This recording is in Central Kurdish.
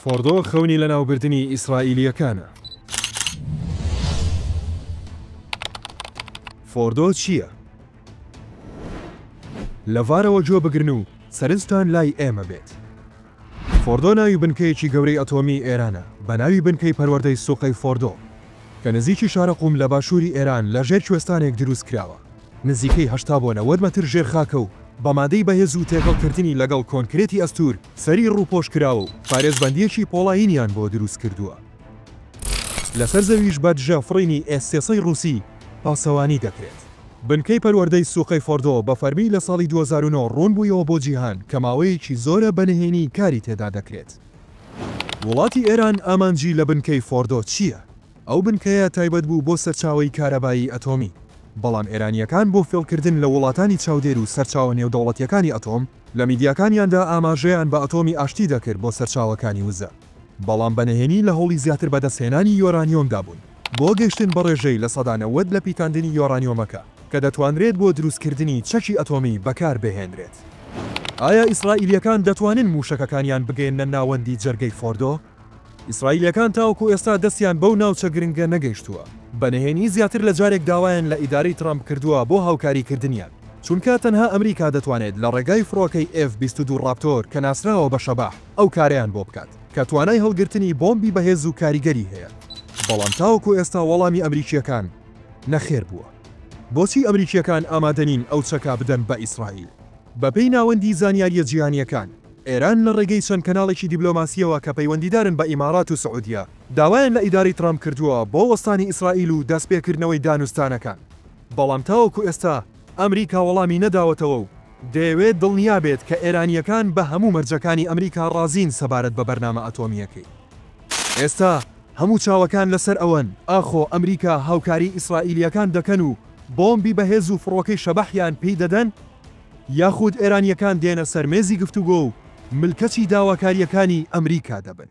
فۆڕدۆ خەونی لەناوبردنی ئیسرائیلییەکانە. فۆڕدۆ چییە؟ لە ڤارەوە گوێ بگرن و سەرنجتان لای ئێمە بێت. فۆڕدۆ ناوی بنکەیەکی گەورەی ئەتۆمیی ئێرانە بە ناوی بنکەی پەروەردەی سوقەی فۆڕدۆ کە نزیکی شارە قوم لە باشووری ئێران لە ژێر کوێستانێک دروست کراوە. نزیکەی هەشتا بۆ نەوەد مەتر ژێر خاکە و بە مادەی بەهێز و تێکەڵکردنی لەگەڵ کۆنکرێتی ئەستوور سەری ڕووپۆش کراوە و پارێزبەندییەکی پۆڵایینیان بۆ دروست کردووە. لەسەر زەویش بە دژە فڕینی ئێس سێ سەد ڕووسی پاسەوانی دەکرێت. بنکەی پەروەردەی سوقەی فۆردۆ بە فەرمی لە ساڵی دوو هەزار و نۆ ڕوون بوویەوە بۆ جیهان کە ماوەیەکی زۆرە بە نهێنی کاری تێدا دەکرێت. وڵاتی ئێران ئامانجی لە بنکەی فۆردۆ چییە؟ ئەو بنکەیە تایبەت بوو بۆ سەرچاوەی کارەبایی ئەتۆمی، بەڵام ئێرانییەکان بۆ فێڵکردن لە وڵاتانی چاودێر و سەرچاوە نێودەوڵەتییەکانی ئەتۆم، لە میدیاکانیاندا ئاماژەیان بە ئەتۆمی ئاشتی دەکرد بۆ سەرچاوەکانی وزە، بەڵام بە نهێنی لە هەوڵی زیاتر بەدەستهێنانی یۆرانیۆمدا بوون بۆ گەیشتن بە ڕێژەی لە سەدا نەوەد لە پیتاندنی یۆرانیۆمەکە کە دەتوانرێت بۆ دروستکردنی چەکی ئەتۆمی بەکاربهێنرێت. ئایا ئیسرائیلییەکان دەتوانن مووشەکەکانیان بگەیەننە ناوەندی جەرگەی فۆردۆ؟ ئیسرائیلییەکان تاوەکو ئێستا دەستیان بەو ناوچە گرنگە نەگەیشتووە، بە نهێنی زیاتر لە جارێک داوایان لە ئیدارەی ترەمپ کردووە بۆ هاوکاریکردنیان، چونکە تەنها ئەمریکا دەتوانێت لە ڕێگای فڕۆکەی ئێف بیست و دوو ڕاپتۆر کە ناسراوە بە شەباح ئەو کارەیان بۆ بکات، کە توانای هەڵگرتنی بۆمبی بەهێز و کاریگەری هەیە. بەڵام تاوەکو ئێستا وەڵامی ئەمریکییەکان نەخێر بووە. بۆچی ئەمریکییەکان ئامادە نین ئەو چەکە بدەن بە ئیسرائیل؟ بەپێی ناوەندی زانیارییە جیهانییەکان، ئێران لە ڕێگەی چەند کەناڵێکی دیبلۆماسییەوە کە پەیوەندیدارن بە ئیماڕات و سعودیە، داوایان لە ئیدارەی ترامپ کردووە بۆ وەستانی ئیسرائیل و دەستپێکردنەوەی دانوستانەکان، بەڵام تاوەکو ئێستا ئەمریکا وەڵامی نەداوەتەوە و دەیەوێت دڵنیا بێت کە ئێرانییەکان بە هەموو مەرجەکانی ئەمریکا ڕازین سەبارەت بە بەرنامە ئەتۆمییەکەی. ئێستا هەموو چاوەکان لەسەر ئەوەن ئاخۆ ئەمریکا هاوکاریی ئیسرائیلییەکان دەکەن و بۆمبی بەهێز و فڕۆکەی شەبەحیان پێی دەدەن؟ یاخود ئێرانییەکان دێنە سەر مێزی گفتوگۆ و ملکەچی داواکارییەکانی ئەمریکا دەبن.